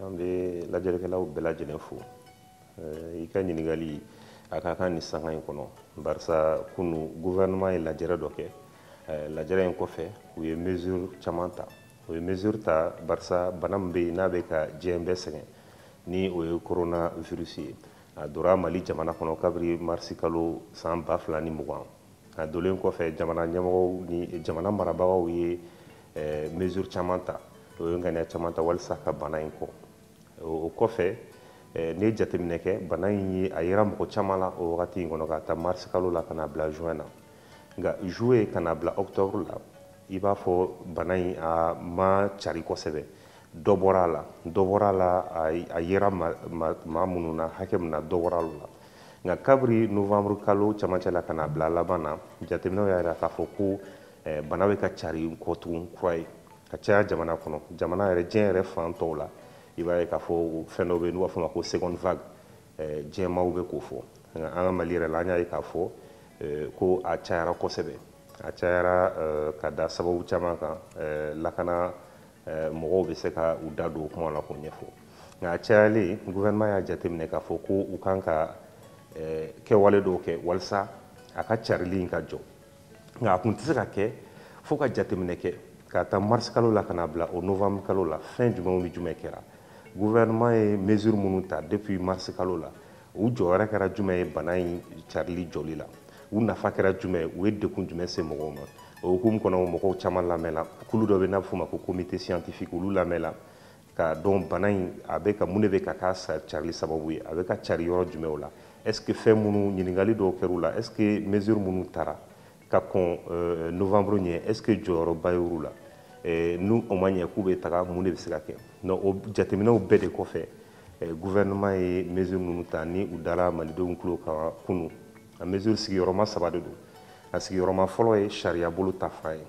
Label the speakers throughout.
Speaker 1: an bɛ lajɛlikɛlaw bɛɛ lajɛlen fo i ka ɲininkali a ka kan ni sanga in kɔnɔ barisa kunu gouvernement ye lajɛrɛ dɔ kɛ lajɛrɛ in kɔfɛ u ye mesure caman ta u ye mesure ta barisa bana min bɛ yen n'a bɛ ka diɲɛ bɛɛ sɛgɛn ni o ye corona virus ye a donna mali jamana kɔnɔ kabiri marisi kalo san ba fila ni mugan A donlen kɔfɛ jamana ɲɛmɔgɔw ni jamana marabagaw ye mesure caman ta u ye ŋaniya caman ta walisa ka bana in kɔn o kɔfɛ n'i ye jateminɛ kɛ bana in ye a yera mɔgɔ caman la o wagati in kɔnɔ k'a ta marisi kalo la ka na bila juin na nka juillet ka na bila octobre la i b'a fɔ bana in a ma cari kosɛbɛ dɔ bɔra a la dɔ bɔra a la a yera maa minnu na hakɛ min na dɔ bɔra olu la nka kabiri novembre kalo camancɛ la ka na bila laban na jateminɛw y'a jira k'a fɔ ko eh, bana bɛ ka cari kɔ tugun kura ye ka caya jamana kɔnɔ jamana yɛrɛ diɲɛ yɛrɛ fan tɔw la i b'a ye k'a fɔ fɛn dɔ bɛ n'u b'a f'o ma ko seconde vague eh, diɲɛmaaw bɛ k'o fɔ nka an ka mali yɛrɛ la an y'a ye k'a fɔ eh, ko a cayara kosɛbɛ a cayara ka da sababu caman kan lakana Eh, mɔgɔw bɛ se ka u da don o kuma la k'o ɲɛfɔ nka a cayalen gouvernement y'a jateminɛ k'a fɔ ko u kan ka eh, kɛwale dɔw kɛ walisa a ka carili in ka jɔ nka a tun tɛ se ka kɛ fo ka jateminɛ kɛ k'a ta mars kalo la ka na bila o novembre kalo la fɛn jumɛnw ni jumɛn kɛra gouvernement ye mesure minnu ta depuis mars kalo la u jɔyɔrɔ kɛra jumɛn ye bana in carili jɔli la u nafa kɛra jumɛn ye u ye dekun jumɛn se mɔgɔw ma o hukumu kɔnɔ mɔgɔw caman lamɛnna kulu dɔ bɛ n'a bɛ f'o ma ko comité scientifique olu lamɛnna k'a dɔn bana in a bɛ ka mun de bɛ ka k'a carili sababu ye a bɛ ka cari yɔrɔ jumɛnw la est ce que fɛn minnu ɲininkali dɔw kɛr'u la est ce que mesure minnu tara ka kɔn euh, novembre ɲɛ est ce que jɔyɔrɔba y'olu la euh, ni o ma ɲɛ k'u bɛ taga mun de bɛ se ka kɛ donc o jateminɛw bɛɛ de kɔfɛ euh, gouvernement ye mesure ninnu ta ni u dara malidenw tulo kan kunu a mesure sigiyɔrɔma saba de don a sigiyɔrɔma fɔlɔ ye sariyabolo ta fan ye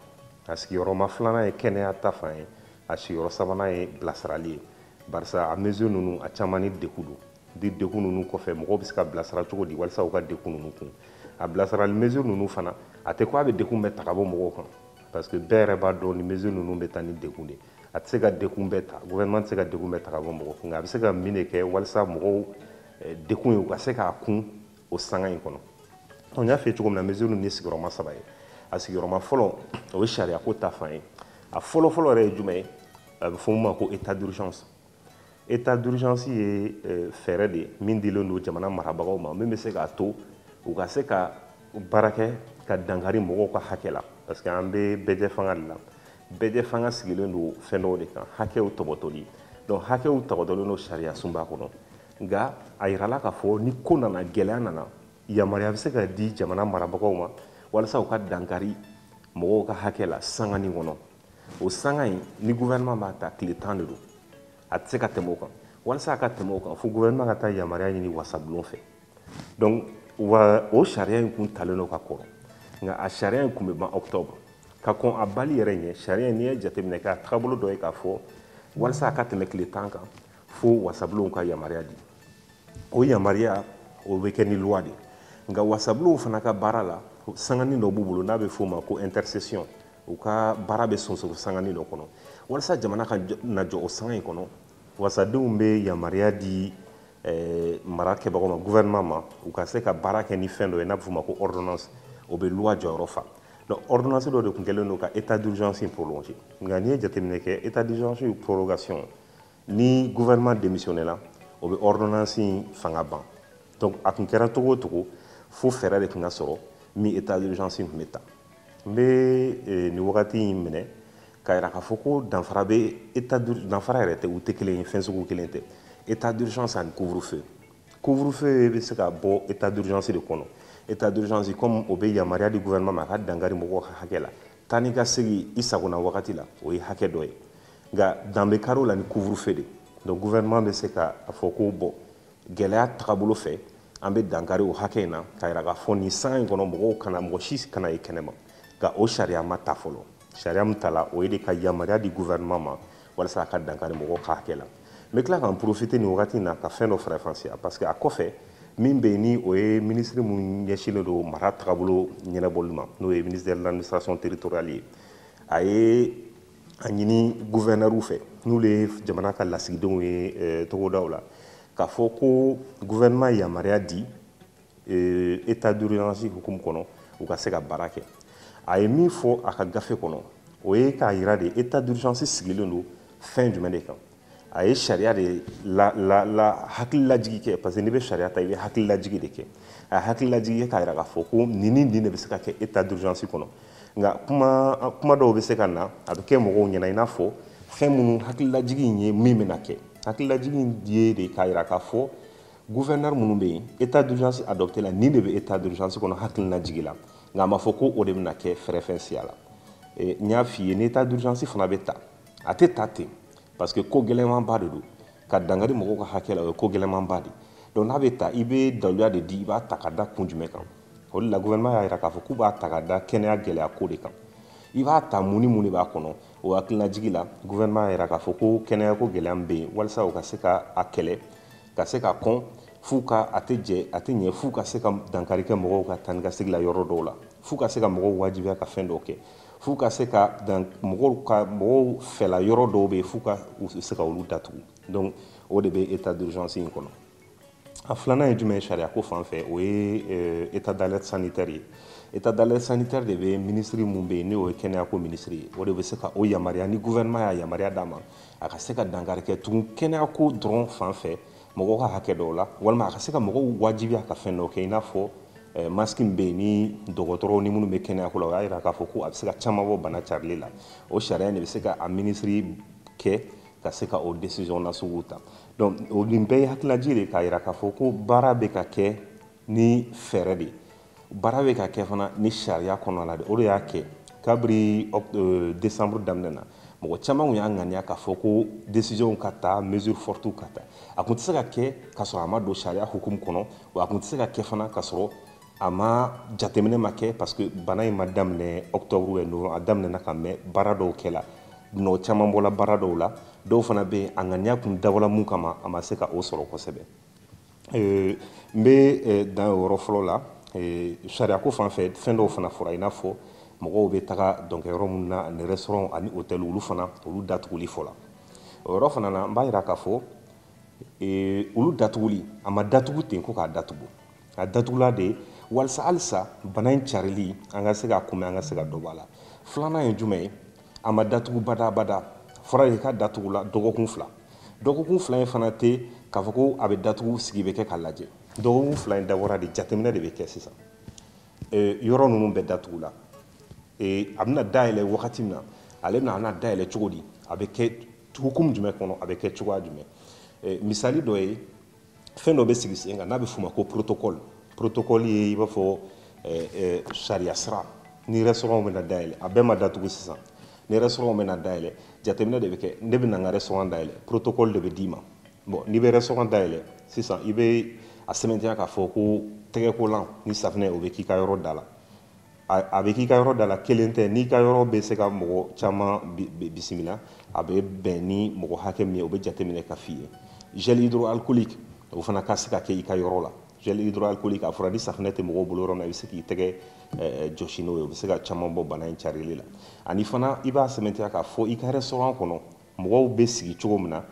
Speaker 1: a sigiyɔrɔma filanan ye kɛnɛya ta fan ye a sigiyɔrɔ sabanan ye bilasirali ye barisa a mesure ninnu a caman ni dekun don di dekun ninnu kɔfɛ mɔgɔw bɛ se ka bilasira cogo di walisa u ka dekun ninnu kun a bilasirali mesure ninnu fana a tɛ ko a bɛ dekun bɛɛ ta ka bɔ mɔgɔw kan parce que bɛɛ yɛrɛ b'a dɔn ni mesure ninnu bɛ taa ni dekun de a tɛ se ka dekun bɛɛ ta gouvernement tɛ se ka dekun bɛɛ ta ka bɔ mɔgɔw kun nka a bɛ se ka min de kɛ walisa mɔgɔw eh, dekun ye u ka se k'a kun o sanga in kɔnɔ n y'a f'i ye cogo min na mesure ninnu ye sigiyɔrɔma saba ye a sigiyɔrɔma fɔlɔ o ye sariyako ta fan ye a fɔlɔfɔlɔ yɛrɛ ye jumɛn ye a bɛ fɔ min ma ko état d'urgence Etat d'urgence ye eh, fɛɛrɛ de ye min dilen don jamana marabagaw ma min bɛ se k'a to u ka se ka baara kɛ ka dankari mɔgɔw ka hakɛ la parce que an bɛ bɛɛjɛfanga de la bɛɛjɛfanga sigilen don fɛn dɔw de kan hakɛw tɔpɔtɔli donc hakɛw tɔpɔtɔlen don sariyasunba kɔnɔ nka a yirala k'a fɔ ni ko nana gɛlɛya nana yamaruya bɛ se ka di jamana marabagaw ma walasa u ka dankari mɔgɔw ka hakɛ la sangani kɔnɔ o sanga in ni gouvernement b'a ta tile tan de don a tɛ se ka tɛmɛ o kan walasa a ka tɛmɛ o kan fo gouvernement ka taa yamaruya ɲini wasabulon fɛ donc wa o sariya in kun talen don ka kɔrɔ nka a sariya in kun bɛ ban octobre ka kɔn a banni yɛrɛ ɲɛ sariya in n'i ye jateminɛ kɛ a tagabolo dɔ ye k'a fɔ walasa a ka tɛmɛ tile tan kan fo wasabulonw ka yamaruya di o yamaruya o bɛ kɛ ni loi de nka wasabulonw fana ka baara la sanganin dɔ b'u bolo n'a bɛ f'o ma ko intersession u ka baara bɛ sonsoro sangani dɔ kɔnɔ walasa jamana kana jɔ o sanga in kɔnɔ wasadenw bɛ yamaruya di eh, marakɛbagaw ma gouvernement ma u ka se ka baara kɛ ni fɛn dɔ ye n'a bɛ f'o ma ko ordonnance o bɛ loi jɔyɔrɔ fa donc ordonnance dɔ de tun kɛlen don ka état d'urgence in prolonger nka n'i ye jateminɛ kɛ état d'urgence prolongation ni gouvernement démissionné la o bɛ ordonnance in fanga ban donc a tun kɛra cogo o cogo fo fɛɛrɛ de tun ka sɔrɔ min état d'urgence in tun bɛ ta n bɛ eh, nin wagati in minɛ k'a jira k'a fɔ ko danfara bɛ état danfara yɛrɛ tɛ u tɛ kelen ye fɛn sugu kelen tɛ état d'urgence ani couvre-feu couvre-feu bɛ se ka bɔ état d'urgence de kɔnɔ état d'urgence comme o bɛ yamaruya di gouvernement ma a ka dankari mɔgɔw ka hakɛ la taa ni ka segin i sagona wagati la o ye hakɛ dɔ ye nka dan bɛ kari o la ni couvre-feu de donc gouvernement bɛ se ka a fɔ ko bon gɛlɛya tagabolo fɛ an bɛ dankari o hakɛ in na k'a jira k'a fɔ nin sanga in kɔnɔ mɔgɔw kana mɔgɔ si kana ye kɛnɛma nka o sariya ma ta fɔlɔ sariya min tala o ye de ka yamaruya di gouvernement ma walasa a ka dankari mɔgɔw ka hakɛ la n bɛ tila k'an profiter nin wagati in na ka fɛn dɔ faranfasiya parce que a kɔfɛ min bɛ yen ni o ye minisiri min ɲɛsinnen don mara tagabolo ɲɛnabɔli ma n'o ye ministre de l'administration territoriale ye a ye a ɲini gouverneurw fɛ n'olu ye jamana ka lasigidenw ye eh, togodaw la k'a fɔ ko gouvernement yamaruya di eh, état d'urgence hukumu kɔnɔ u ka se ka baara kɛ a ye min fɔ a ka gafe kɔnɔ o ye k'a yira de état d'urgence sigilen don fɛn jumɛn de kan a ye sariya de la la la hakililajigi kɛ parce que n'i bɛ sariya ta i bɛ hakililajigi de kɛ a ye hakililajigi kɛ k'a jira k'a fɔ ko nin ni nin de bɛ se ka kɛ état d'urgence kɔnɔ nka kuma kuma dɔw bɛ se ka na a bɛ kɛ mɔgɔw ɲɛna i n'a fɔ fɛn minnu hakililajigi in ye min bɛna kɛ hakililajigi in ye de k'a jira k'a fɔ gouverneur minnu bɛ yen état d'urgence adopté la nin de bɛ état d'urgence kɔnɔ hakililajigi la nka a ma fɔ ko o de bɛna kɛ faranfasiya la n y'a f'i ye ni état d'urgence fana bɛ ta a tɛ ta ten parce que ko gɛlɛnmanba de don ka dankari mɔgɔw ka hakɛ la o ye ko gɛlɛnmanba de donc n'a bɛ ta i bɛ daluya de di i b'a ta ka da kun jumɛn kan o de la gouvernement y'a jira k'a fɔ k'u b'a ta ka da kɛnɛya gɛlɛya ko de kan i b'a ta mun ni mun de b'a kɔnɔ o hakilinajigi la gouvernement y'a jira k'a fɔ ko kɛnɛyako gɛlɛya min bɛ yen walasa u ka se ka a kɛlɛ ka se k'a kɔn f'u ka a tɛ jɛ a tɛ ɲɛ f'u ka se ka dankari kɛ mɔgɔw ka taa ni ka segin la yɔrɔ dɔw la f'u ka se ka mɔgɔw wajibiya ka fɛn dɔw kɛ f'u ka se ka dan mɔgɔw ka mɔgɔw fɛla yɔrɔ dɔw bɛ yen f'u ka u se ka olu datugu donc o de bɛ état d'urgence in kɔnɔ a filanan ye jumɛn ye sariya ko fan fɛ o ye euh, état d'alerte sanitaire ye état d'alerte sanitaire de bɛ minisiri min bɛ yen n'o ye kɛnɛyako minisiri ye o de bɛ se ka o yamaruya ni gouvernement y'a yamaruya d'a ma a ka se ka dankari kɛ tugun kɛnɛyako dɔrɔn fan fɛ mɔgɔw ka hakɛ dɔw la walima a ka se ka mɔgɔw wajibiya ka fɛn dɔ kɛ i n'a fɔ eh, maski min bɛ yen ni dɔgɔtɔrɔw ni minnu bɛ kɛnɛyako la o y'a jira k'a fɔ ko a bɛ se ka caman bɔ bana carili la o sariya in de bɛ se ka a minisiri kɛ ka se ka o desizɔn nasugu ta donc o nin bɛɛ ye hakililajigi de k'a jira k'a fɔ ko baara bɛ ka kɛ ni fɛɛrɛ de ye baara bɛ ka kɛ fana ni sariya kɔnɔna de o de y'a kɛ kabiri euh, décembre daminɛ na mɔgɔ caman tun y'a ŋaniya k'a fɔ ko décision ka ta mesure forte ka ta a tun tɛ se ka kɛ ka sɔrɔ a ma don sariya hukumu kɔnɔ wa a tun tɛ se ka kɛ fana ka sɔrɔ a ma jateminɛ ma kɛ parce que bana in ma daminɛ octobre ou novembre a daminɛna ka mɛn baara dɔw kɛla nɔ caman bɔla baara dɔw la dɔw fana bɛ yen a ŋaniya tun dabɔla mun kama a ma se ka o sɔrɔ kosɛbɛ n bɛ dan o yɔrɔ fɔlɔ la sariyako fan fɛ fɛn dɔw fana fɔra i n'a fɔ mɔgɔw bɛ taga dɔnkɛyɔrɔ minnu na ani restaurant ani hôtel olu fana olu datuguli fɔla o yɔrɔ fana na n b'a jira k'a fɔ olu datuguli a ma datugu ten ko k'a datugu a datugula de walisa halisa bana in carili an ka se k'a kunbɛn an ka se ka dɔ bɔ a la filanan ye jumɛn ye a ma datugu badabada fɔra de k'a datugula dɔgɔkun fila dɔgɔkun fila in fana tɛ k'a fɔ ko a bɛ datugu sigi bɛ kɛ k'a lajɛ dɔgɔkun fila in dabɔra de jateminɛ de bɛ kɛ sisan yɔrɔ ninnu bɛɛ datugula a bɛna dayɛlɛ wagati min na ale bɛna dayɛlɛ cogo di a bɛ kɛ hukumu jumɛn kɔnɔ a bɛ kɛ cogoya jumɛn misali dɔ ye fɛn dɔ bɛ sigi sen kan n'a bɛ f'o ma ko protocole protocole ye i b'a fɔ eh, eh, sariya sira ni restaurant bɛna dayɛlɛ a bɛɛ ma datugu sisan ni restaurant bɛna dayɛlɛ jateminɛ de bɛ kɛ ne bɛna n ka restaurant dayɛlɛ protocole de bɛ d'i ma bon n'i bɛ restaurant dayɛlɛ sisan i bɛ a sɛmɛntiya k'a fɔ ko tɛgɛkolan ni safinɛ o bɛ k'i ka yɔrɔ da la a bɛ k'i ka yɔrɔ da la kelen tɛ n'i ka yɔrɔ bɛ se ka mɔgɔ caman bisimila a bɛ bɛn ni mɔgɔ hakɛ min ye o bɛ jateminɛ ka f'i ye gel hydroalcoolique o fana ka se ka kɛ i ka yɔrɔ la gel hydroalcoolique a fɔra ni safinɛ tɛ mɔgɔw bolo yɔrɔ min na i bɛ se k'i tɛgɛ jɔsi n'o ye o bɛ se ka caman bɔ bana in carili la ani fana i b'a sɛmɛntiya k'a fɔ i ka restaurant kɔnɔ mɔgɔw bɛ sigi cogo min na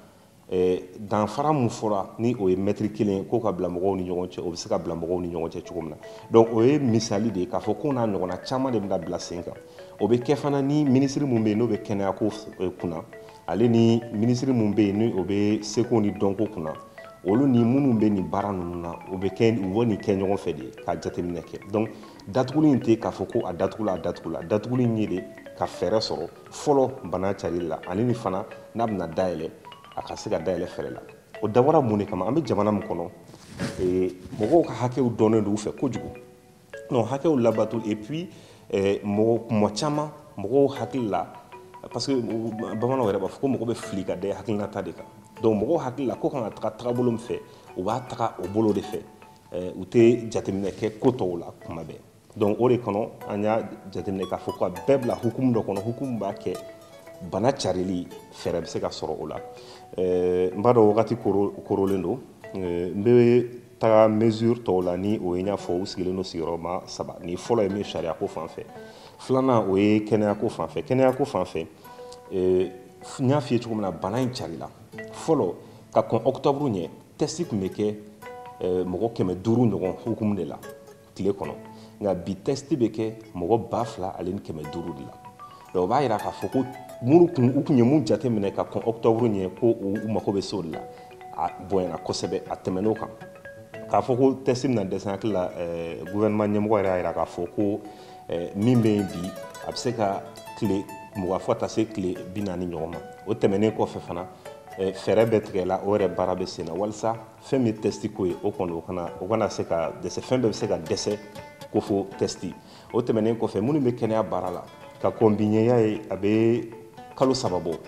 Speaker 1: Eh, danfara min fɔra ni o ye mɛtiri kelen ye k'o ka bila mɔgɔw ni ɲɔgɔn cɛ o bɛ se ka bila mɔgɔw ni ɲɔgɔn cɛ cogo min na donc o ye misali de ye k'a fɔ ko n'a ɲɔgɔnna caman de bɛna bila sen kan o bɛ kɛ fana ni minisiri min bɛ yen n'o bɛ kɛnɛyako eh, kunna ale ni minisiri min bɛ yen ni o bɛ seko ni dɔnko kunna olu ni minnu bɛ nin baara ninnu na u bɛ nin kɛ ɲɔgɔn fɛ de ka jateminɛ kɛ donc datuguli in tɛ k'a fɔ ko a datugula a datugula datuguli in ye de ka fɛɛrɛ sɔrɔ fɔlɔ bana carili la ani ni fana n'a bɛna dayɛlɛ a ka se ka dayɛlɛ fɛɛrɛ la o dabɔra mun de kama an bɛ jamana min kɔnɔ mɔgɔw ka hakɛw dɔnnen don u fɛ kojugu non hakɛw labato et puis mɔgɔ kuma caman mɔgɔw hakili la parce que bamananw yɛrɛ b'a fɔ ko mɔgɔ bɛ fili ka da hakilinata de kan donc mɔgɔw hakili la ko kan ka taga tagabolo min fɛ u b'a taga o bolo de fɛ u tɛ jateminɛ kɛ ko tɔw la kuma bɛɛ donc o de kɔnɔ an y'a jateminɛ k'a fɔ ko a bɛɛ bila hukumu dɔ kɔnɔ hukumu b'a kɛ bana carili fɛɛrɛ bɛ se ka sɔrɔ o la eh, n b'a dɔn wagati korolen don eh, n bɛ taga mesure tɔw la ni o ye n y'a fɔ u sigilen don sigiyɔrɔma saba ni fɔlɔ ye min sariyako fan fɛ filanan o ye kɛnɛyako fan fɛ kɛnɛyako fan fɛ eh, n y'a f'i ye cogo min na bana in carila fɔlɔ ka kɔn ɔkutɔburu ɲɛ tɛsti tun bɛ kɛ mɔgɔ kɛmɛ duuru ɲɔgɔn hukumu de la tile kɔnɔ nka bi tɛsti bɛ kɛ mɔgɔ ba fila ale ni kɛmɛ duuru de la donc o b'a yira k'a fɔ ko minnu kun u kun ye min jate minɛ ka kɔn ɔktɔburu ɲɛ ko u mago bɛ se o de la a bonyana kosɛbɛ a tɛmɛn'o kan k'a fɔ ko tɛsti bɛna dɛsɛ n hakili la eh, gouvernement ɲɛmɔgɔ yɛrɛ y'a yira k'a fɔ ko eh, min bɛ yen bi a bɛ se ka tile mugan fo ka taa se tile bi naani ɲɔgɔn ma o tɛmɛnen kɔfɛ fana eh, fɛɛrɛ bɛ tigɛ la o yɛrɛ baara bɛ sen na walisa fɛn min ye tɛsti ko ye o kɔni o kana o kana se ka dɛsɛ fɛn bɛɛ bɛ se ka dɛsɛ ko fo tɛsti o tɛmɛnen kɔfɛ minnu bɛ kɛnɛya baara la ka kɔn bi ɲɛ y'a ye a bɛ kalo saba bɔ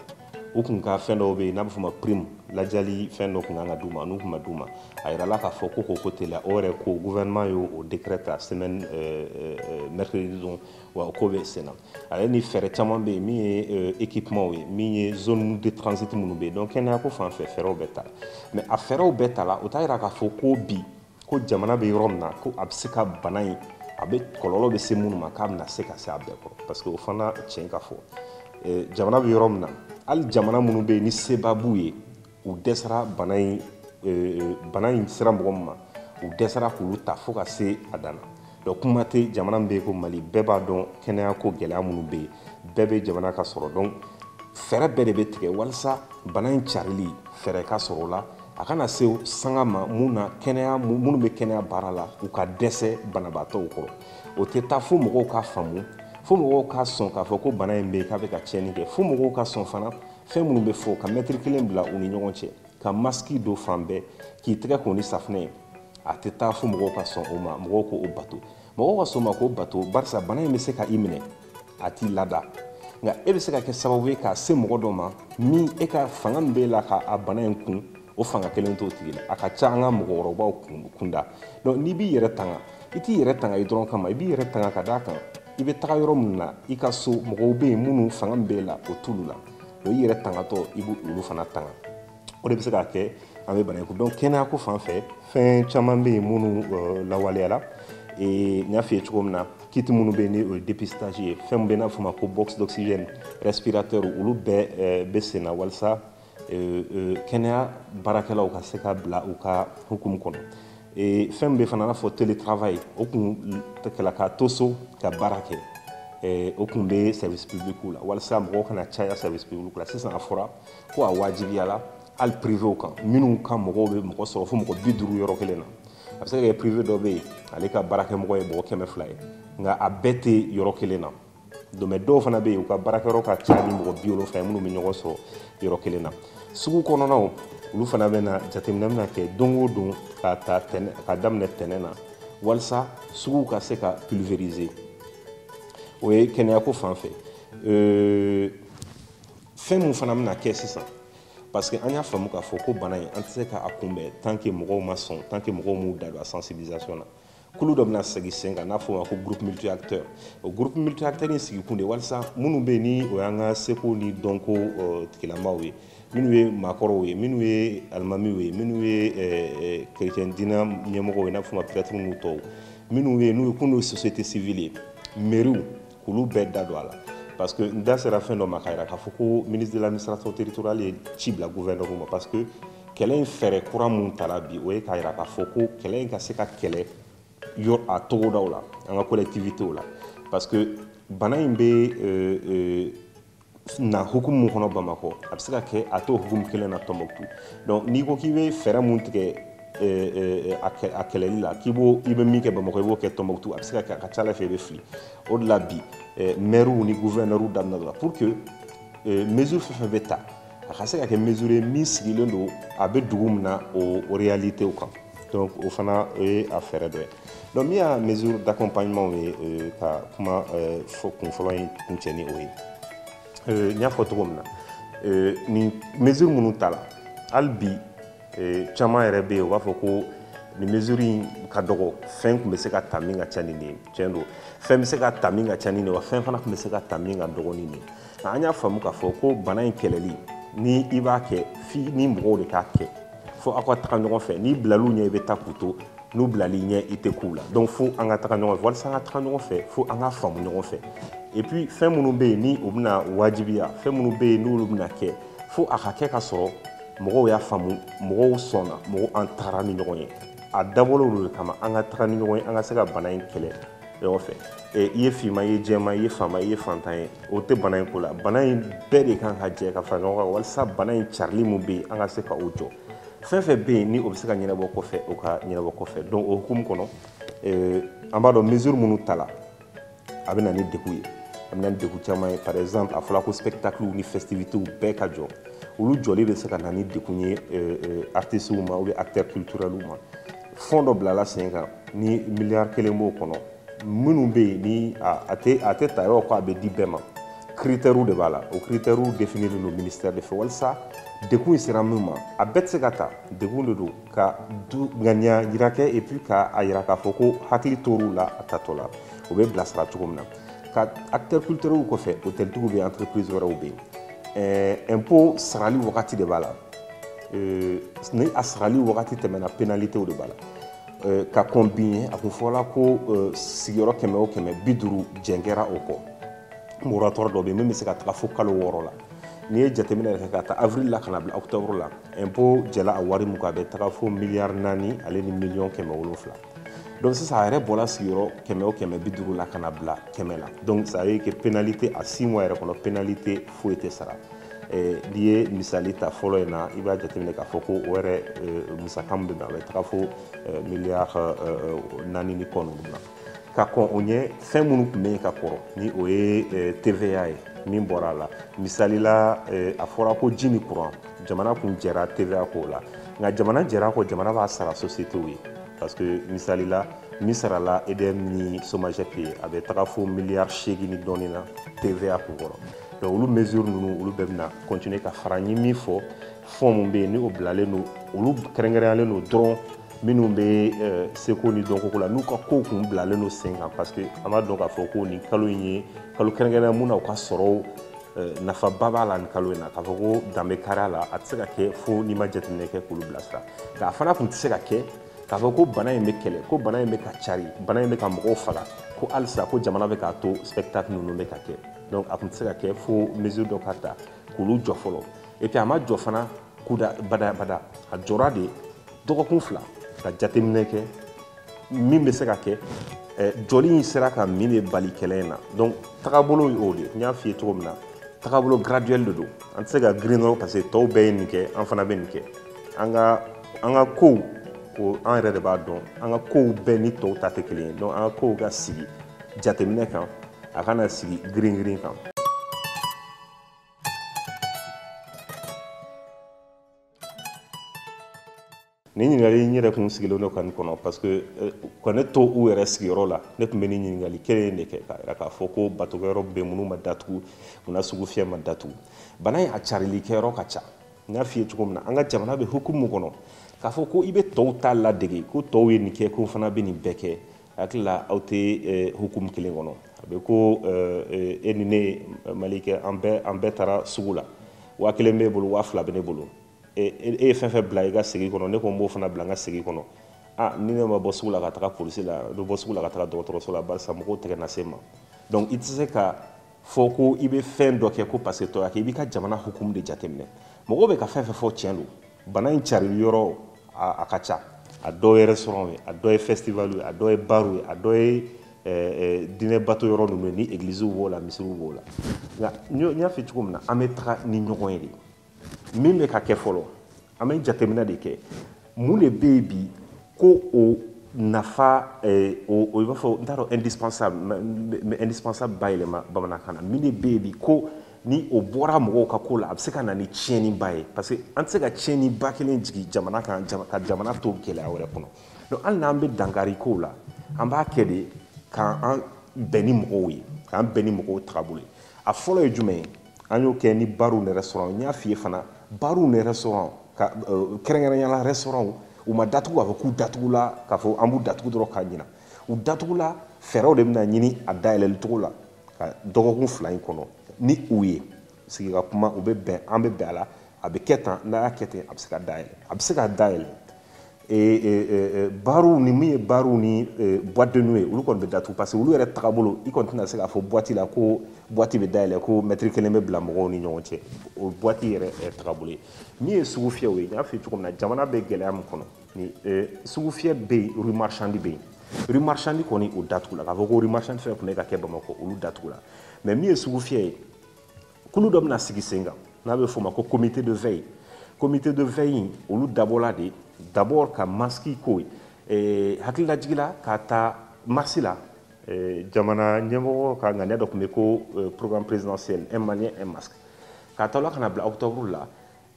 Speaker 1: u kun ka fɛn dɔw bɛ yen n'a bɛ fɔ o ma prime ladiyali fɛn dɔ kun kan ka d'u ma n'u kun ma d'u ma a yirala k'a fɔ ko k'o ko teliya o yɛrɛ ko gouvernement y'o o décret ta semaine euh, euh, euh, mercredi don wa o ko bɛ sen na ale ni fɛɛrɛ caman bɛ yen min ye euh, équipement ye min ye zone de transit minnu bɛ yen donc kɛnɛya ko fan fɛ fɛɛrɛw bɛ ta la mais a fɛɛrɛw bɛɛ ta la o t'a yira k'a fɔ ko bi ko jamana bɛ yɔrɔ min na ko a bɛ se ka bana in a bɛ kɔlɔlɔ bɛ se minnu ma k'a bɛna se ka se a bɛɛ kɔrɔ parce que o fana tiɲɛ ka fɔ euh, jamana bɛ yɔrɔ min na hali jamana minnu bɛ yen ni seba b'u ye u dɛsɛra bana in e, e, bana in sera mɔgɔ min ma u dɛsɛra k'olu ta fo ka se a dan na donc kuma tɛ jamana min bɛ yen ko mali bɛɛ b'a dɔn kɛnɛya ko gɛlɛya minnu bɛ yen bɛɛ bɛ jamana ka sɔrɔ dɔn fɛɛrɛ bɛɛ de bɛ tigɛ walisa bana in carili fɛɛrɛ ka sɔrɔ o la a kana se sanga ma mun na kɛnɛya minnu bɛ kɛnɛya baara la u ka dɛsɛ banabaatɔw kɔrɔ o tɛ taa fo mɔgɔw k'a faamu fo mɔgɔw ka sɔn k'a fɔ ko bana in bɛ yen k'a bɛ ka tiɲɛni kɛ fo mɔgɔw ka sɔn fana fɛn minnu bɛ fɔ ka mɛtiri kelen bila u ni ɲɔgɔn cɛ ka masiki don fan bɛɛ k'i tɛgɛ ko ni safunɛ ye a tɛ taa fo mɔgɔw ka sɔn o ma mɔgɔw k'o bato mɔgɔw ka sɔn o ma k'o bato barisa bana in bɛ se ka i minɛ a t'i lada nka e bɛ se ka kɛ sababu ye k'a se mɔgɔ dɔ ma min e ka fanga min b'e la ka a bana in kun o fanga kelen t'o tigi la a ka ca an ka mɔgɔkɔrɔbaw kunda donc n'i b'i yɛrɛ tanga i t'i yɛrɛ tanga i dɔrɔn kama i b'i yɛrɛ tanga ka d'a kan i bɛ taga yɔrɔ min na i ka so mɔgɔw bɛ yen minnu fanga min b'e la o t'olu la donc i yɛrɛ tangatɔ i bɛ olu fana tanga o de bɛ se k'a kɛ an bɛ bana in kun donc kɛnɛya ko fan fɛ fɛn caman bɛ yen minnu euh, lawaleyala ee n y'a f'i ye cogo min na kiti minnu bɛ yen ni o ye dépistage ye fɛn min bɛ n'a fɔ ma ko box d'oxygène respirateur olu bɛɛ euh, bɛ sen na walasa kɛnɛya baarakɛlaw ka se ka bila u ka hukumu kɔnɔ fɛn min bɛ fana n'a fɔ télétravail o kun kɛla ka to so ka baara kɛ o kun bɛ service public la walasa mɔgɔw kana caya service public la sisan a fɔra ko a wajibiyala hali privéw kan minnu ka mɔgɔw bɛ mɔgɔ sɔrɔ fo mɔgɔ bi duuru yɔrɔ kelen na a bɛ se ka kɛ privé dɔ bɛ yen ale ka baarakɛmɔgɔ ye mɔgɔ kɛmɛ fila ye nka a bɛɛ tɛ yɔrɔ kelen na dɔ bɛ dɔw fana bɛ yen u ka baarakɛyɔrɔ ka ca ni mɔgɔ bi wolonfila ye minnu bɛ ɲɔgɔn sɔrɔ yɔrɔ kelen na sugu kɔnɔnaw olu fana bɛna jateminɛ bɛna kɛ don o don ka ta tɛnɛn ka daminɛ tɛnɛn na walasa suguw ka se ka pulvériser o ye kɛnɛyako fan fɛ euh, fɛn min fana bɛna kɛ sisan parce que an y'a faamu k'a fɔ ko bana in an tɛ se k'a kunbɛn tant que mɔgɔw ma sɔn tant que mɔgɔw m'u da don a sensibilisation na kulu dɔ bɛna sigi sen kan n'a fɔ ma ko groupe multi acteur o groupe multi acteur in sigikun de walisa minnu bɛ ni o y'an ka seko ni dɔnko eh, tigilamaw ye minnu ye maakɔrɔw ye minnu ye alimamiw ye minnu ye eh, eh, kerecɛn diina ɲɛmɔgɔw ye n'a fɔ ma prɛtiri n'u tɔw minnu ye n'u ye kun société civile ye mɛriw k'olu bɛɛ da don a la parce que n da sera fɛn dɔ ma k'a jira k'a fɔ ko ministre de l'administration territoriale ye ci bila gouverneurw ma parce que kɛlɛ in fɛɛrɛ kura mun tara bi o ye k'a jira k'a fɔ ko kɛlɛ in ka se ka kɛlɛ yɔrɔ a togodaw la an ka collectivitéw la parce que bana in bɛ euh, euh, na hukumu mun kɔnɔ bamakɔ a bɛ se ka kɛ a t'o hukumu kelen na tɔnbɔkutu donc n'i ko k'i bɛ fɛɛrɛ mun tigɛ a kɛlɛli la k'i bɛ min kɛ bamakɔ i b'o kɛ tɔnbɔkutu a bɛ se ka kɛ a ka ca ala fɛ i bɛ fili o de la bi mɛriw ni guvɛnɛriw daminɛ la pour que mesure fɛn fɛn bɛ ta a ka se ka kɛ mesure ye min sigilen don a bɛ dugu min na o réalitéw kan donc o fana o ye a fɛɛrɛ dɔ ye Donc min y'a mesure d'accompagnement ye ka kuma fɔ kun fɔlɔ in kuncɛ ni o ye n y'a fɔ cogo min na nin mesure minnu tala hali bi caman yɛrɛ bɛ yen u b'a fɔ ko nin mesure in ka dɔgɔ fɛn tun bɛ se ka ta min ka ca ni nin ye cɛn don fɛn bɛ se ka ta min ka ca ni nin ye wa fɛn fana tun bɛ se ka ta min ka dɔgɔn ni nin ye an y'a faamu k'a fɔ ko bana in kɛlɛli ni i b'a kɛ f'i ni mɔgɔw de k'a kɛ fo aw ka taga ɲɔgɔn fɛ n'i bilal'u ɲɛ i bɛ taa k'u to n'u bilal'i ɲɛ i tɛ k'u la donc fo an ka taga ɲɔgɔn fɛ walisa an ka taga ɲɔgɔn fɛ fo an ka faamu ɲɔgɔn fɛ et puis fɛn minnu bɛ yen ni o bɛna wajibiya fɛn minnu bɛ yen n'olu bɛna kɛ fo a ka kɛ ka sɔrɔ mɔgɔw y'a faamu mɔgɔw sɔnna mɔgɔw an tagara ni ɲɔgɔn ye a dabɔla olu de kama an ka taga ni ɲɔgɔn ye an ka se ka bana in kɛlɛ ɲɔgɔn fɛ i ye finma i ye jɛma i ye faama i ye fantan ye o tɛ bana in ko la bana in bɛɛ de kan ka jɛ ka fara ɲɔgɔn kan walisa bana in carili min bɛ yen an ka se ka o jɔ fɛn fɛn bɛ yen ni o bɛ se ka ɲɛnabɔ kɔfɛ o ka ɲɛnabɔ kɔfɛ donc o hukumu kɔnɔ eh, an b'a dɔn mesure minnu tala a bɛ na ni degun ye a bɛ na ni degun caman ye par exemple a fɔra ko spectaclew ni festivitéw bɛɛ ka jɔ olu jɔli bɛ se ka na ni degun ye eh, eh, artistew ma ou bien acteurs culturelw ma fond dɔ bilala sen kan ni miliyari kelen b'o kɔnɔ minnu bɛ yen ni a tɛ a tɛ ta yɔrɔ ko a bɛ di bɛɛ ma critèrew de b'a la o critèrew définilen don ministère de fɛ walisa degun in sera min ma a bɛɛ tɛ se ka ta degun de don ka ŋaniya jira kɛ et puis ka a jira k'a fɔ ko hakili tor'u la a tatɔ la o bɛ bilasira cogo min na ka acteurs culturels kɔfɛ hôteltigiw bɛ yen entreprise wɛrɛw bɛ yen impôt sarali wagati de b'a la ni a sarali wagati tɛmɛna pénalités de b'a la Eh, ka kɔn bi ɲɛ a kun fɔla ko eh, sigiyɔrɔ kɛmɛ o kɛmɛ bi duuru jɛn kɛra o kɔ moratoire dɔ bɛ yen min bɛ se ka taga fo kalo wɔɔrɔ la n'i ye jateminɛ yɛrɛ kɛ ka ta avril la ka na bila octobre la impôt jɛla a wari mun kan a bɛ taga fo miliyari naani ale ni miliyɔn kɛmɛ wolonfila donc sisan a yɛrɛ bɔla sigiyɔrɔ kɛmɛ o kɛmɛ bi duuru la ka na bila kɛmɛ la donc ça veut dire que pénalité a six mois yɛrɛ kɔnɔ pénalité foyi tɛ sara n'i ye misali ta fɔlɔ in na i b'a jateminɛ k'a fɔ ko o yɛrɛ musaka min bɛ na a bɛ taga fo miliyari naani ni kɔ ninnu na ka kɔn o ɲɛ fɛn minnu tun bɛ yen ka kɔrɔ ni o ye TVA ye min bɔra a la misali la a fɔra ko ji ni kuran jamana kun jɛra TVA ko la nka jamana jɛra a kɔ jamana b'a sara sociétéw ye parce que misali la min sarala edm ni somagep ye a bɛ taga fo miliyari seegin ni dɔɔni na tva kun kɔrɔ donc olu mesure ninnu olu bɛɛ bɛna continuer ka fara n ye min fɔ fond min bɛ yen ni o bilalen don olu kɛrɛnkɛrɛnyalen don dɔrɔn minnu bɛ euh, seko ni dɔnkoko la n'u ka kow kun bilalen don sen kan parce que an b'a dɔn k'a fɔ ko nin kalo in ye kalo kɛrɛnkɛrɛnnen mun na u ka sɔrɔw euh, nafaba b'a la nin kalo in na k'a fɔ ko dan bɛ kari a la a tɛ se ka kɛ fo n'i ma jateminɛ kɛ k'olu bilasira nka a fana kun tɛ se ka kɛ k'a fɔ ko bana in bɛ kɛlɛ ko bana in bɛ ka cari bana in bɛ ka mɔgɔw faga ko halisa ko jamana bɛ k'a to spectacle ninnu bɛ ka kɛ donc a kun tɛ se ka kɛ fo mesure dɔ ka ta k'olu jɔ fɔlɔ et puis a ma jɔ fana kuda bada bada a jɔra de dɔgɔkun fila ka jateminɛ kɛ min bɛ se ka kɛ eh, jɔli in sera ka min de bali kɛlɛ in na donc tagabolo y'o de n y'a f'i ye cogo min na tagabolo graduel de don an tɛ se ka girin dɔrɔn parce que tɔw bɛɛ ye nin kɛ an fana bɛ nin kɛ an ka an ka kow o an yɛrɛ de b'a dɔn an ka kow bɛɛ ni tɔw ta tɛ kelen ye donc an ka kow ka sigi jateminɛ kan a kana sigi girin girin kan nin ɲininkali n yɛrɛ kun sigilen don ka nin kɔnɔ parce que eh, ka ne to u yɛrɛ sigiyɔrɔ la ne tun bɛ nin ɲininkali kelen de kɛ k'a yira k'a fɔ ko batokɛyɔrɔ bɛ minnu ma datugu munna sugufiyɛ ma datugu bana in a carili kɛyɔrɔ ka ca n y'a f'i ye cogo min na an ka jamana bɛ hukumu kɔnɔ k'a fɔ ko i bɛ tɔw ta ladege ko tɔw ye nin kɛ ko fana bɛ nin bɛɛ kɛ hakili la aw tɛ eh, hukumu kelen kɔnɔ a bɛ ko eh, eh, e ni ne malikɛ an bɛɛ an bɛɛ taara sugu la waa kelen b'e bolo waa fila bɛ ne bolo e, e, e ye fɛn fɛn bila i ka segi kɔnɔ ne ko n b'o fana bila n ka segi kɔnɔ a ni ne ma bɔ sugu la ka taga polisi la n bɛ bɔ sugu la ka taga dɔgɔtɔrɔso la barisa mɔgɔw tɛgɛ na se n ma donc i tɛ se ka fɔ ko i bɛ fɛn dɔ kɛ ko parce que tɔw y'a kɛ i b'i ka jamana hukumu de jateminɛ mɔgɔw bɛ ka fɛn fɛn fɔ tiɲɛ don bana in carili yɔrɔ a ka ca a dɔw ye restaurant ye a dɔw ye festival ye a dɔw ye bar ye a dɔw ye eh, eh, diinɛ bato yɔrɔ ninnu ye ni egliziw b'o la misiriw b'o la nka n y'a fɔ cogo min na an bɛ taga ni ɲɔgɔn ye de min bɛ ka kɛ fɔlɔ an bɛ jateminɛ de kɛ mun de bɛ yen bi ko o nafa eh, o i b'a fɔ n t'a dɔn indispensable indispensable bayɛlɛma bamanankan na min de bɛ yen bi ko ni o bɔra mɔgɔw ka ko la a bɛ se ka na ni tiɲɛniba ye parce que an tɛ se ka tiɲɛniba kelen jigin jamana kan ka jamana to gɛlɛya wɛrɛ kɔnɔ donc hali n'an bɛ dankari kow la an b'a kɛ de k'an bɛn ni mɔgɔw ye k'an bɛn ni mɔgɔw tagabolo ye a fɔlɔ ye jumɛn ye an y'o kɛ ni baruw ni restaurant n y'a f'i ye fana baruw ni restaurant ka euh, kɛrɛnkɛrɛnya la restaurant u ma datugu k'a fɔ k'u datugula k'a fɔ an b'u datugu dɔrɔn ka ɲina u datugula fɛɛrɛw de bɛna ɲini a dayɛlɛli cogo la ka dɔgɔkun fila in kɔnɔ ni u ye sigi ka kuma u bɛ bɛn an bɛ bɛn a la a bɛ kɛ tan n'a y'a kɛ ten a bɛ se ka dayɛlɛ a bɛ se ka dayɛlɛ bariw ni min ye bariw ni boîte de nuit ye olu kɔni bɛ datugu parce que olu yɛrɛ tagabolo i kɔni tɛna se k'a fɔ boîte la ko boîte bɛ dayɛlɛ ko mɛtiri kelen bɛ bila mɔgɔw ni ɲɔgɔn cɛ o boîte yɛrɛ tagabolo ye min ye sugu fiyɛw ye n y'a f'i ye cogo min na jamana bɛ gɛlɛya min kɔnɔ ni sugu fiyɛ bɛ yen rue marchande bɛ yen rue marchande kɔni o datugula k'a fɔ ko rue marchande fɛn fɛn tun bɛ ka kɛ bamakɔ olu datugula mais min ye sugu fiyɛ ye kulu dɔ bɛna sigi sen kan n'a bɛ f'o ma ko comité de veille comité de veille in olu dabɔla de d'abord ka masiki ko ye eh, hakililajigi la k'a ta marsi la eh, jamana ɲɛmɔgɔ ka ŋaniya dɔ tun bɛ ko eh, programme présidentiel un malien un masque k'a ta o la ka na bila octobre la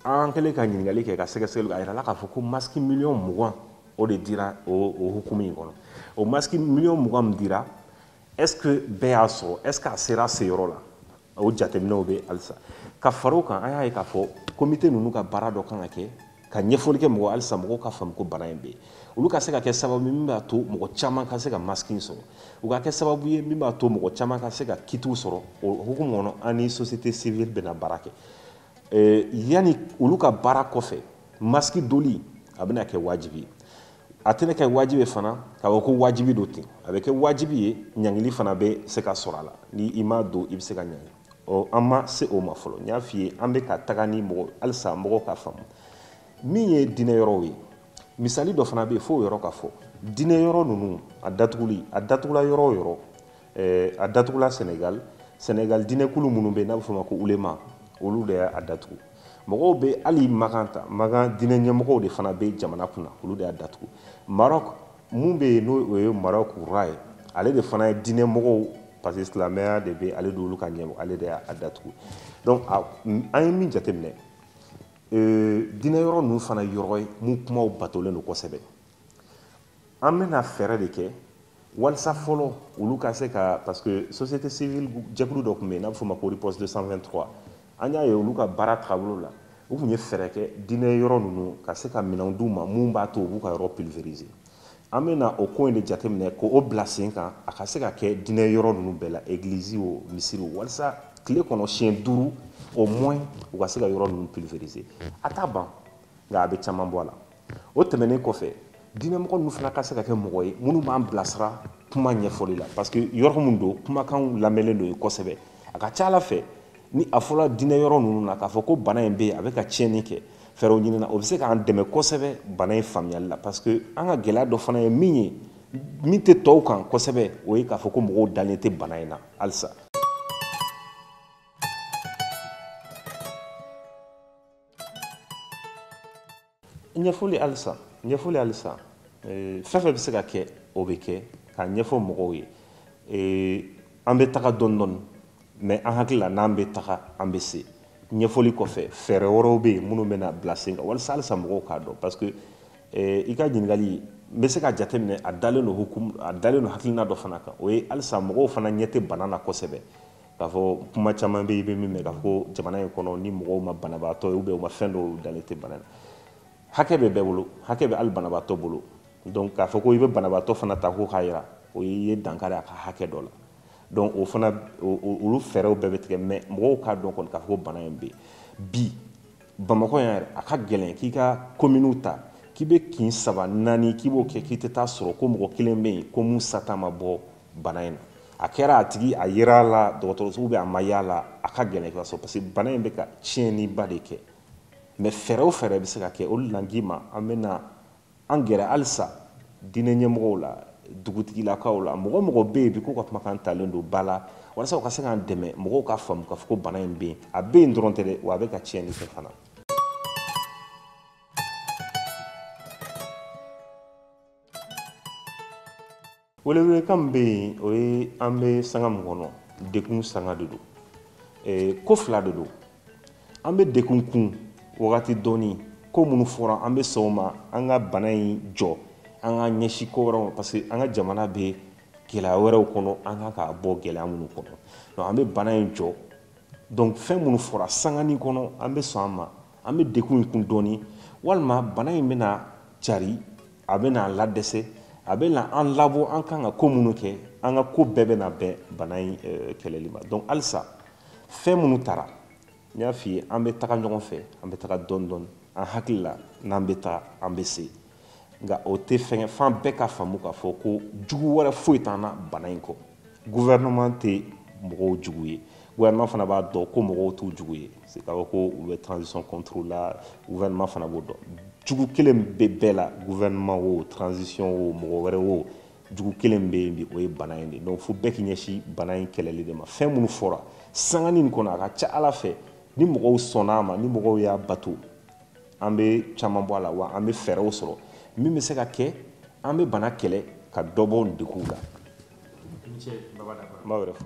Speaker 1: an kɛlen ka ɲininkali kɛ ka sɛgɛsɛgɛli a yirala k'a fɔ ko masiki miliyɔn mugan o de dira o hukumu in kɔnɔ o masiki miliyɔn mugan min dira est ce que bɛɛ y'a sɔrɔ est ce que a sera a seyɔrɔ la o jateminɛw bɛ halisa ka fara o kan an y'a ye k'a fɔ komite ninnu ka baara dɔ kan ka kɛ ka ɲɛfɔli kɛ mɔgɔ halisa mɔgɔw k'a faamu ko bana in bɛ yen olu ka se ka kɛ sababu ye min b'a to mɔgɔ caman ka se ka maski in sɔrɔ u ka kɛ sababu ye min b'a to mɔgɔ caman ka se ka kitiw sɔrɔ o hukumu kɔnɔ an ni société civile bɛna baara kɛ eh, yanni olu ka baara kɔfɛ maski doli a bɛna kɛ wajibi ye a tɛna kɛ wajibi ye fana k'a fɔ ko wajibi don ten a bɛ kɛ wajibi ye ɲangili fana bɛ se ka sɔrɔ a la ni i m'a don i bɛ se ka ɲangi ɔ an ma se o ma fɔlɔ n y'a f'i ye an bɛ ka taga ni mɔgɔ halisa mɔgɔw k'a faamu min ye diinɛ yɔrɔw ye misali dɔ fana bɛ yen fo o yɔrɔ ka fɔ diinɛ yɔrɔ ninnu a datuguli a datugula yɔrɔ o yɔrɔ eh, a datugula senegal senegal diinɛkulu minnu bɛ n'a bɛ f'o ma ko ulema olu de y'a datugu mɔgɔw bɛ hali makan ta makan diinɛ ɲɛmɔgɔw de fana bɛ jamana kunna olu de y'a datugu maroc mun bɛ yen n'o ye maroc roi ye ale de fana ye diinɛ mɔgɔw parce que silamɛya de bɛ ale d'olu ka ɲɛmɔgɔ ale de y'a datugu donc an ye min jateminɛ diinɛ yɔrɔ ninnu fana yɔrɔ ye mun kumaw batolen don kosɛbɛ an bɛna fɛɛrɛ de kɛ walisa fɔlɔ olu ka se ka parce que société civile jɛkulu dɔ tun bɛ yen n'a bɛ f'o ma ko riposte 223 an y'a ye olu ka baara tagabolo la u tun ye fɛɛrɛ kɛ diinɛ yɔrɔ ninnu ka se ka minɛnw d'u ma mun b'a to u b'u ka yɔrɔ pulvériser an bɛna o ko in de jateminɛ k'o bila sen kan a ka se ka kɛ diinɛ yɔrɔ ninnu bɛɛ la église o misiri o walisa tile kɔnɔ siɲɛ duuru au moins u ka se ka yɔrɔ ninnu pulvériser a t'a ban nka a bɛ caman bɔ a la o tɛmɛnen kɔfɛ diinɛmɔgɔ ninnu fana ka se ka kɛ mɔgɔ ye minnu b'an bilasira kuma ɲɛfɔli la parce que yɔrɔ min don kumakanw lamɛnlen don yen kosɛbɛ a ka ca a la fɛn ni a fɔra diinɛ yɔrɔ ninnu na k'a fɔ ko bana in bɛ yen a bɛ ka tiɲɛni kɛ fɛɛrɛw ɲinina o bɛ se k'an dɛmɛ kosɛbɛ bana in faamuyali la parce que an ka gɛlɛya dɔ fana ye min ye min tɛ tɔw kan kosɛbɛ o ye k'a fɔ ko mɔgɔw dalen tɛ bana in na halisa ɲɛfɔli halisa ɲɛfɔli halisa eh, fɛn fɛn bɛ se ka kɛ o bɛ kɛ k'a ɲɛfɔ mɔgɔw ye eh, an bɛ taga dɔɔni dɔɔni mais an hakili la n'an bɛ taga an bɛ se ɲɛfɔli kɔfɛ fɛɛrɛ wɛrɛw bɛ yen minnu bɛna bila sen kan walasa halisa mɔgɔw k'a dɔn parce que eh, i ka ɲininkali n bɛ se ka jateminɛ a dalen don hukumu a dalen don hakilina dɔ fana kan o ye halisa mɔgɔw fana ɲɛ tɛ bana na kosɛbɛ k'a fɔ kuma caman bɛ yen i bɛ min mɛn k'a fɔ ko jamana in kɔnɔ ni mɔgɔw ma banabaatɔ ye ou bien u ma fɛn dɔw dalen tɛ bana na hakɛ bɛ bɛɛ bolo hakɛ bɛ hali banabaatɔ bolo donc k'a fɔ ko i bɛ banabaatɔ fana ta ko k'a jira o y'i ye dankari a ka hakɛ dɔ la donc o fana olu fɛɛrɛw bɛɛ bɛ tigɛ mais mɔgɔw k'a dɔn kɔni k'a fɔ ko bana in bɛ yen bi bamakɔ yan yɛrɛ a ka gɛlɛn k'i ka kominiw ta k'i bɛ kin saba naani k'i b'o kɛ k'i tɛ taa sɔrɔ ko mɔgɔ kelen bɛ yen ko min sata ma bɔ bana in na a kɛra a tigi a yera a la dɔgɔtɔrɔso ou bien a ma y'a la a ka gɛlɛn ka sɔrɔ parce que bana in bɛ ka tiɲɛniba de kɛ mais fɛɛrɛ o fɛɛrɛ bɛ se ka kɛ o de la n k'i ma an bɛna an gɛrɛ halisa diinɛ ɲɛmɔgɔw la dugutigilakaw la mɔgɔ o mɔgɔ bɛ yen bi k'u ka kumakan talen don ba la walasa u ka se k'an dɛmɛ mɔgɔw ka faamu k'a fɔ ko bana in bɛ yen a bɛ yen dɔrɔn tɛ dɛ wa a bɛ ka tiɲɛni kɛ fana welewelekan min bɛ yen o ye an bɛ sanga min kɔnɔ dekun sanga de don eh, ko fila de don an bɛ dekun kun wagati dɔɔni ko minnu fɔra an bɛ sɔn o ma an ka bana in jɔ an ka ɲɛsin ko wɛrɛw ma parce que an ka jamana bɛ gɛlɛya wɛrɛw kɔnɔ an kan k'a bɔ gɛlɛya minnu kɔnɔ donc an bɛ bana in jɔ donc fɛn minnu fɔra sangani kɔnɔ an bɛ sɔn a ma an bɛ dekun in kun dɔɔni walima bana in bɛna cari a bɛna ladɛsɛ a bɛna an labɔ an kan ka ko minnu kɛ an ka ko bɛɛ bɛna bɛn bana in eh, kɛlɛli ma donc halisa fɛn minnu tara n y'a f'i ye an bɛ taga ɲɔgɔn fɛ an bɛ taga dɔɔni dɔɔni an hakili la n'an bɛ taa an bɛ se nka o tɛ fɛngɛ f'an bɛɛ ka faamu k'a fɔ ko jugu wɛrɛ foyi t'an na bana in kɔ gouvernement tɛ mɔgɔw jugu ye gouvernement fana b'a dɔn ko mɔgɔw t'u jugu ye c'est k'a fɔ ko u bɛ transition contre la gouvernement fana b'o dɔn jugu kelen bɛ bɛɛ la gouvernement wo transition wo mɔgɔ wɛrɛ wo jugu kelen bɛ yen bi o ye bana in de donc fo bɛɛ k'i ɲɛsin bana in kɛlɛli de ma fɛn minnu fɔra sangani in kɔnɔ a ka ca ala fɛ ni mɔgɔw sɔnna a ma ni mɔgɔw y'a bato an bɛ caman bɔ a la wa an bɛ fɛɛrɛw sɔrɔ min bɛ se ka kɛ an bɛ bana kɛlɛ ka dɔ bɔ deguw la n b'aw yɛrɛ fo